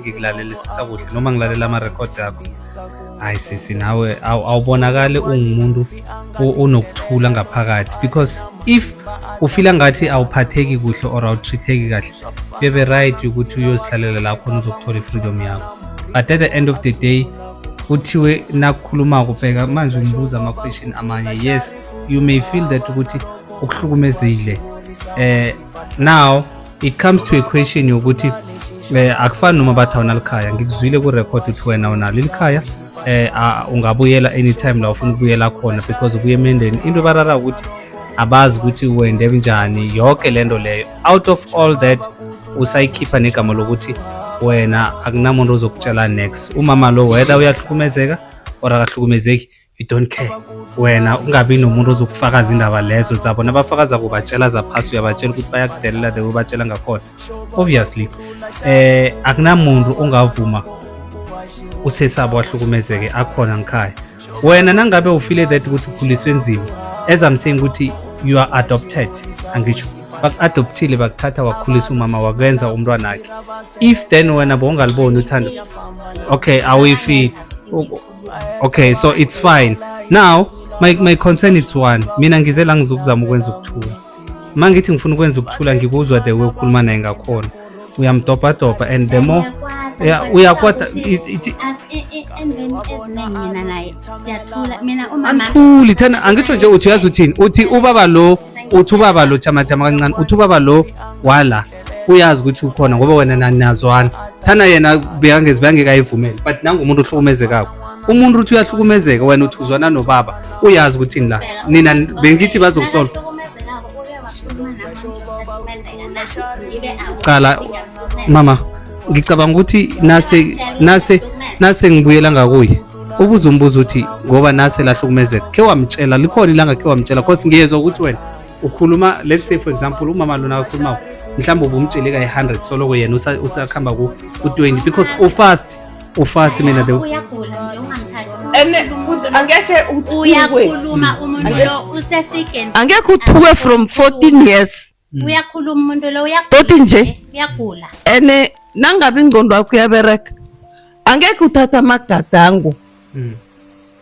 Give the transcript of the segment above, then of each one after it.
ngikulalela kuhle noma ngilalela amarekhodi akho hayi sisi nawe awubonakali ungumuntu onokuthula ngaphakathi because if ufila ngathi awuphatheki kuhle or awutreatheki kahle bebe right ukuthi uyozihlalela lapho khona uzokuthola i-freedom yakho but at the end of the day kuthiwe nakukhuluma kubheka manje umbuza ama-question amanye yes you may feel that ukuthi ukuhlukumezile um now it comes to a question yokuthi eh akufani noma bathi awunalo khaya ngikuzwile ku record ukuthi wena unalo ilikhaya eh ungabuyela anytime la ufuna ukubuyela khona because ubuye emendeni into barara ukuthi abazi ukuthi wende njani yonke lento leyo out of all that usayikhipha negama lokuthi wena akunamuntu ozokutshela next umama lo whether uyahlukumezeka or akahlukumezeki you don't care wena ungabi nomuntu ozokufakaza indaba lezo zabo nabafakaza kubatshela zaphasi uyabatshela ukuthi bayakudelela the ubatshela ngakhona obviously eh akunamuntu ongavuma usesabo wahlukumezeke akhona ngikhaya wena nangabe ufile that ukuthi ukhuliswe nzima as i'm saying ukuthi you are adopted angisho baku-adoptile bakuthatha wakhulisa umama wakwenza umntwana wakhe if then wena bongaliboni uthando okay awuyifile okay so it's fine now my, my concern it's one mina ngize la ngizokuzama ukwenza ukuthula uma ngithi ngifuna ukwenza ukuthula ngikuzwa the way ukhuluma naye ngakhona uyamdobhadobha and the more uyakwata athuli thana angitsho nje uthi uyazi uthini uthi ubaba lo uthi ubaba lo jamajama kancane uthi ubaba lo wala uyazi ukuthi ukhona ngoba wena nanazwana thana yena bekangezi bengekayivumele but nangu umuntu ohlukumezekako umuntu uthi uyahlukumezeka wena uthi uzwana nobaba uyazi ukuthi la nina bengithi bazokusola cala mama ngicabanga ukuthi nase nase nase ngibuyela ngakuye ubuze umbuzo uthi ngoba nase lahlukumezeka khe wamtshela likhona ilanga khe wamtshela cause ngiyezwa ukuthi wena ukhuluma let's say for example umama lona akhuluma mhlawumbe ubumtshele ka 100 soloko yena usakhamba ku 20 because u fast u fast mina the uyagula nje ungamthathi angeke uyakhuluma umuntu lo usesikeni angeke uthukwe from 14 years hmm. uyakhuluma umuntu lo uyagula nje uyagula ene nangabe ingqondo yakho uyabereka angeke uthatha amagadango hmm.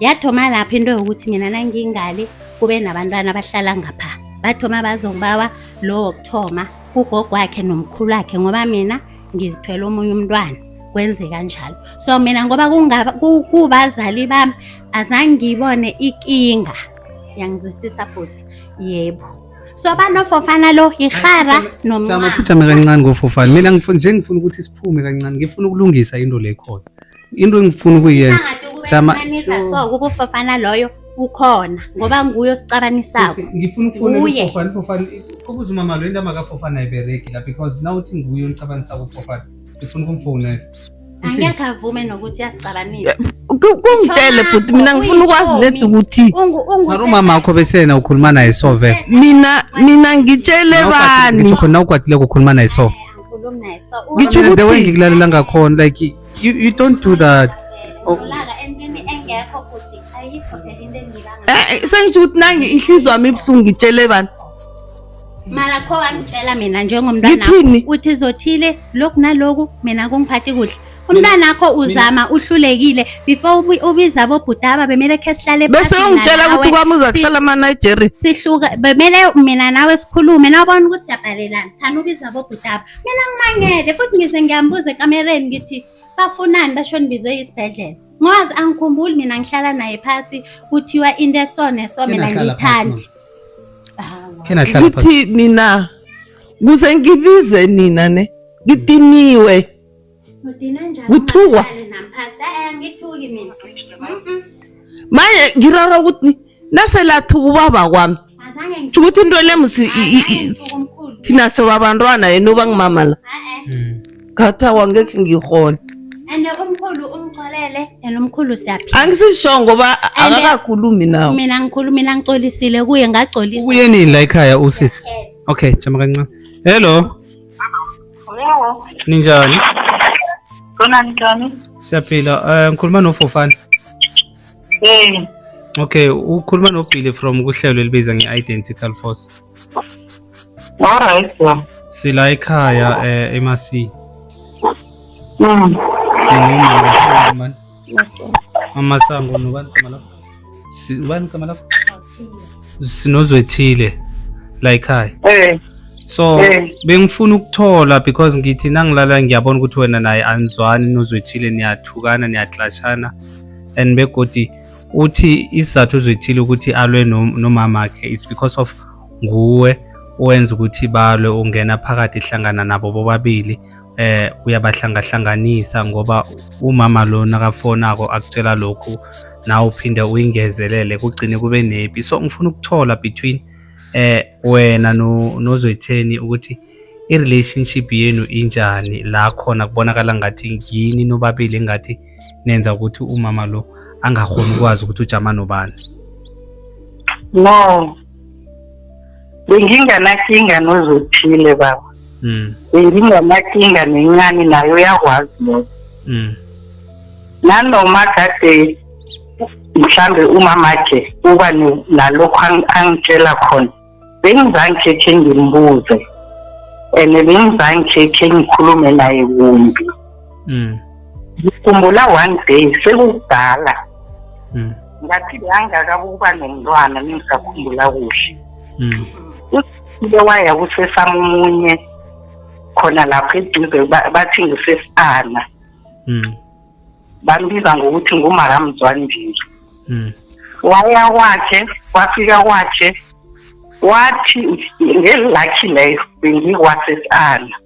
yathoma lapho into yokuthi mina nangingale kube nabantwana abahlala ngapha bathoma bazongibawa lo wokuthoma ugogo wakhe nomkhulu wakhe ngoba mina ngizithwele omunye umntwana kwenzeka njalo so mina ngoba kubazali bami azange ngiyibone ikinga yangizwisisa bhuti yebo so banofofana lo yihara nomncane kancane ngofofana mina nje ngifuna ukuthi siphume kancane ngifuna ukulungisa into le khona into engifuna ukuyenza Sangathi ukuba Jama- kufanisa so ukuba ufafana loyo ukhona ngoba nguye osixabanisako Sisi, ngifuna ukufonela Nguye. ufofana ufofana kubuza umama lo into amakafofana ayibereki la because now uthi nguye onicabanisa kufofana sifuna ukumfonela angekhe avume nokuthi uyasixabanisa Ku- kungitshele bhuti mina ngifuna ukwazi nedi ukuthi Ungu- ungu- mara umama wakho besena ukhuluma naye so vele mina mina ngitshele bani ngitsho khona ukwatile kukhuluma naye so Angikhulumi naye so Ngitsho Mina the way ukuthi- ngikulalela ngakhona like You, you don't do that. Oh. Eh, eh, sengisho ukuthi nangi inhliziyo yami ibuhlungu ngitshele bani mara kho wangitshela mina njengomntwana uthi izothile lokhu naloku mina kungiphathi kuhle umntana akho uzama uhlulekile before ubiza bobhutaba bemele khe sihlale bese ungitshela ukuthi kwami uza kuhlala amanigeria sihluka bemele mina nawe sikhulume nawubona ukuthi siyabhalelana khani ubiza bobhutaba Mina ngimangele futhi ngize ngiyambuza ekamereni ngithi bafunani basho nibizwe isibhedlela. Ngwazi angikhumbuli mina ngihlala naye phasi kuthiwa into esone so mina Kena hlala phasi, ngiyithandi. Hawa. Kena hlala phansi. ngithi nina kuze ngibize nina ne ngidiniwe Ngithukwa. Manje ngirara ukuthi nase lathuka ubaba kwami. Sho ukuthi into le musi thina sobabantwana yena uba ngimama la. Khatha wangekhe ngihona. And umkhulu umxolele and umkhulu siyaphila. Angisisho ngoba akakakhulumi nawe. Mina ngikhulumi la ngixolisile kuye ngagxolisa. Kuye nini la ekhaya usisi? Okay, jama kancane. Hello. Hello. Ninjani? Khona njani? Siyaphila. Eh ngikhuluma noFofana. Eh. Okay, ukhuluma noBilly from kuhlelo elibiza nge-Identical Force. Alright. Sila ekhaya eh eMasi. Mm. Singumama. Mama Sango nobani igama lakho? Si- Ubani igama lakho? Sinozwethile la ekhaya. Eh, So Eh. bengifuna ukuthola because ngithi nangilala ngiyabona ukuthi wena naye anizwani nozwethile niyathukana niyaxashana and begodi uthi isizathu uzwethile ukuthi alwe no- nomama wakhe it's because of nguwe owenza ukuthi balwe ungena phakathi hlangana nabo bobabili eh uyabahlangahlanganisa ngoba umama lo nakafonako akutshela lokhu nawe uphinde uyingezelele kugcine kube nepi so ngifuna ukuthola between eh wena no nozwetheni ukuthi i relationship yenu injani la khona kubonakala ngathi ngini nobabili engathi nenza ukuthi umama lo angakhoni ukwazi ukuthi ujama nobani no benginganakinga nozothile baba mm. benginganakinga nencane nayo uyakwazi lokho mm. nanoma kade mhlambe umamakhe uba nalokho angitshela khona bengizange khe ngimbuze and bengizange khe ngikhulume naye kumbi mm. ngikhumbula one day sekukudala mm. ngathi ngangaka ukuba nomntwana ningisakhumbula kuhle mm. usile waya kusesami omunye khona lapho eduze bathi ngisesana mm. bambiza ngokuthi ngumaramzwandile mm. waya kwakhe wafika kwakhe wathi ngelilakhi leyo bengikwasesana